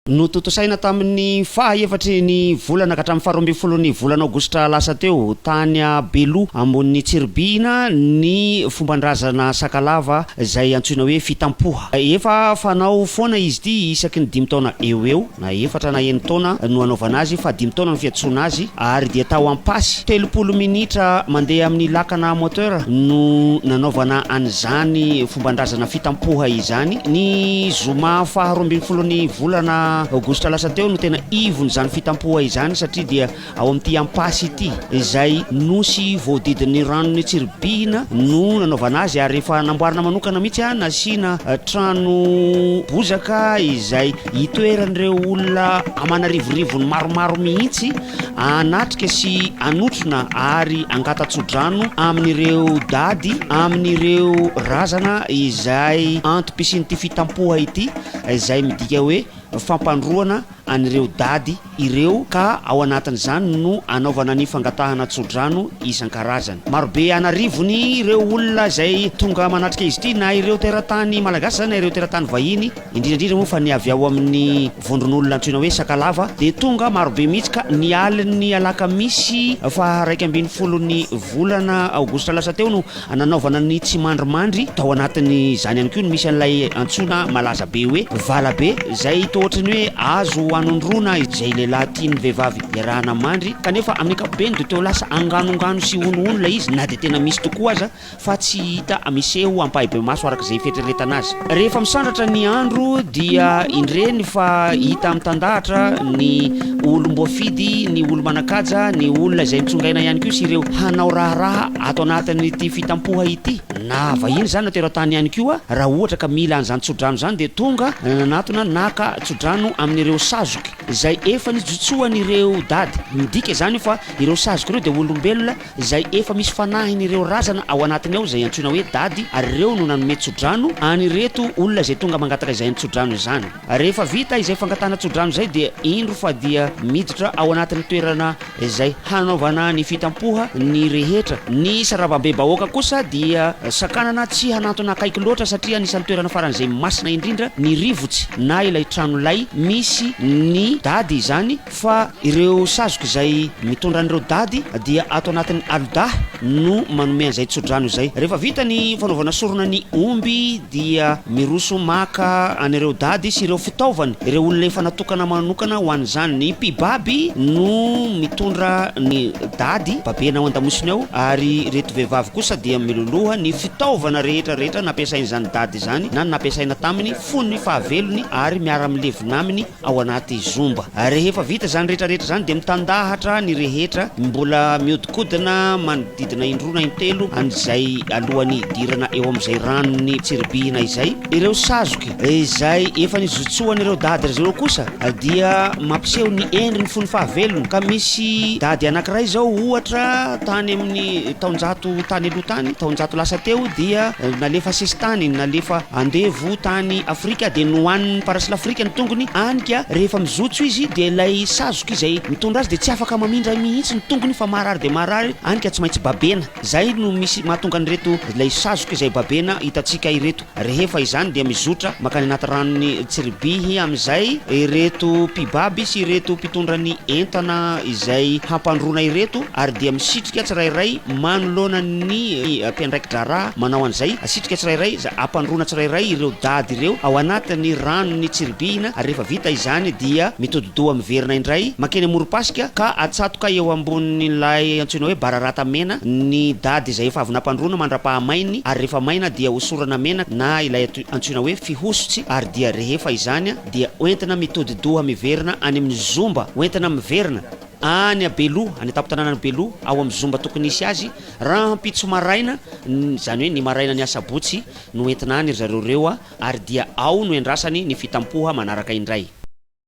Notontosaina tamin'ny faha efatry ny volana ka hatramin'ny faharoa ambin'ny folon'ny volana aogositra lasa teo, tany Beloha ambonin'i Tsiribihina, ny fomban-drazana Sakalava izay antsoina hoe Fitampoha. Efa fanao foana izy ity isaky ny dimy taona eo ho eo, na efatra na enin-taona no anaovana azy fa dimy taona no fiantsoana azy, ary dia tao Ampasy, telopolo minitra mandeha amin'ny lakana moteur no nanaovana an'izany Fomban-drazana fita am-poha izany. Ny zoma faha roa ambin'ny folon'ny volana aogositra lasa teo no tena ivon'izany fita am-poha izany satria dia ao amin'ity ampasy ity izay nosy voadidin'ny ranon'i Tsiribihina no nanaovana azy ary efa namboarina manokana mihitsy nasiana trano bozaka izay hitoeran'ireo olona aman'arivorivony maromaro mihitsy Hanatrika sy hanotrona ary hangata-tsodrano amin'ireo dady, amin'ireo razana izay antom-pisian'ity fitampoha ity, izay midika hoe fampandroana an'ireo dady ireo, ka ao anatin'izany no hanaovana ny fangatahana tsodrano isan-karazany. Marobe an'arivony ireo olona izay tonga manatrika izy ity, na ireo teratany malagasy izany na ireo teratany vahiny. indrindra indrindra moa fa ny avy ao amin'ny vondron'olona antsoina hoe Sakalava dia tonga marobe mihitsy ka ny alin'ny alakamisy faha iraika ambin'ny folon'ny volana aogositra lasa teo no nanaovana ny tsimandrimandry, tao anatin'izany ihany koa no misy an'ilay antsoina malaza be hoe Valabe izay toa ohatry ny hoe azo hanondroana izay lehilahy tian'ny vehivavy iarahana mandry kanefa amin'ny ankapobeny dia toa lasa anganongano sy honohono ilay izy na dia tena misy tokoa aza. fa tsy hita miseho ampahibemaso araka izay fieritreretana azy. Rehefa misandratra ny andro dia indreny fa hita mitandahatra ny olom-boafidy, ny olo-manan-kaja, ny olona izay nitsongaina ihany koa sy ireo hanao raharaha ato anatin'ity fitampoha ity. Na vahiny izany na teratany ihany koa raha ohatra ka mila an'izany tsodrano izany dia tonga nanatona naka tsodrano amin'ireo sazoky izay efa nijotsoan'ireo dady. Midika izany io fa ireo sazoky ireo dia olombelona izay efa misy fanahiny ireo razana ao anatiny ao izay antsoina hoe dady ary ireo no nanome tsodrano an ireto olona izay tonga mangataka izany tsodrano izany. Rehefa vita izay fangatahana tsodrano izay dia indro fa dia miditra ao anatin'ny toerana izay hanaovana ny fitampoha ny rehetra. Ny sarabambe-bahoaka kosa dia sakanana tsy hanantona akaiky loatra satria anisan'ny toerana faran'izay masina indrindra ny rivotsy na ilay trano lay misy ny dady izany, fa ireo sazoka izay mitondra an'ireo dady dia ato anatin'ny alodahy no manome an'izay tsodrano izay. Rehefa vita ny fanaovana sorona ny omby dia miroso maka an'ireo dady sy ireo fitaovany ireo olona efa natokana manokana ho an'izany. Ny mpibaby no mitondra ny dady babena ao an-damosiny ao ary ireto vehivavy kosa dia miloloha ny fitaovana rehetra rehetra nampiasain'izany dady izany na nampiasaina taminy fony fahavelony ary miara-milevina aminy ao anaty zomba. Rehefa vita izany rehetra rehetra izany dia mitandahatra ny rehetra mbola miodikodina manodidina indroa na intelo an'izay alohan'ny hidirana eo amin'izay ranon'ny tsiribihina izay ireo sazoky izay efa nizotsoan'ireo dady ry zareo kosa dia mampiseho ny endriny fony fahavelony ka misy dady anankiray izao ohatra tany amin'ny Taonjato tany aloha tany, taonjato lasa teo dia nalefa sesitany, nalefa andevo tany Afrika dia nohanin'ny parasila Afrika ny tongony any ka rehefa mizotso izy dia ilay sazoka izay mitondra azy dia tsy afaka mamindra mihitsy ny tongony fa marary dia marary any ka tsy maintsy babena. Izay no misy mahatonga an'ireto ilay sazoka izay babena hitantsika ireto. Rehefa izany dia mizotra mankany anaty ranon'i Tsiribihy amin'izay ireto mpibaby sy ireto mpitondra ny entana izay hampandroana ireto ary dia misitrika tsirairay manoloana ny mpiandraiki-draharaha manao an'izay asitrika tsirairay izay hampandroana tsirairay ireo dady ireo ao anatin'ny ranon'i Tsiribihina ary rehefa vita izany dia mitodi-doha miverina indray mankeny amorom-pasika ka atsatoka eo ambonin'ilay antsoina hoe bararata mena ny dady izay efa avy nampandroana mandra-pahamain'ny ary rehefa maina dia hosorana menaka na ilay antsoina hoe fihosotsy ary dia rehefa izany dia hoentina mitodi-doha miverina any amin'ny zomba hoentina miverina any a Beloha any an-tampon-tanànan'i Beloha ao amin'ny zomba tokony hisy azy rahampitso maraina izany hoe ny maraina ny asabotsy no entina any ry zareo ireo ary dia ao no iandrasany ny fitampoha manaraka indray.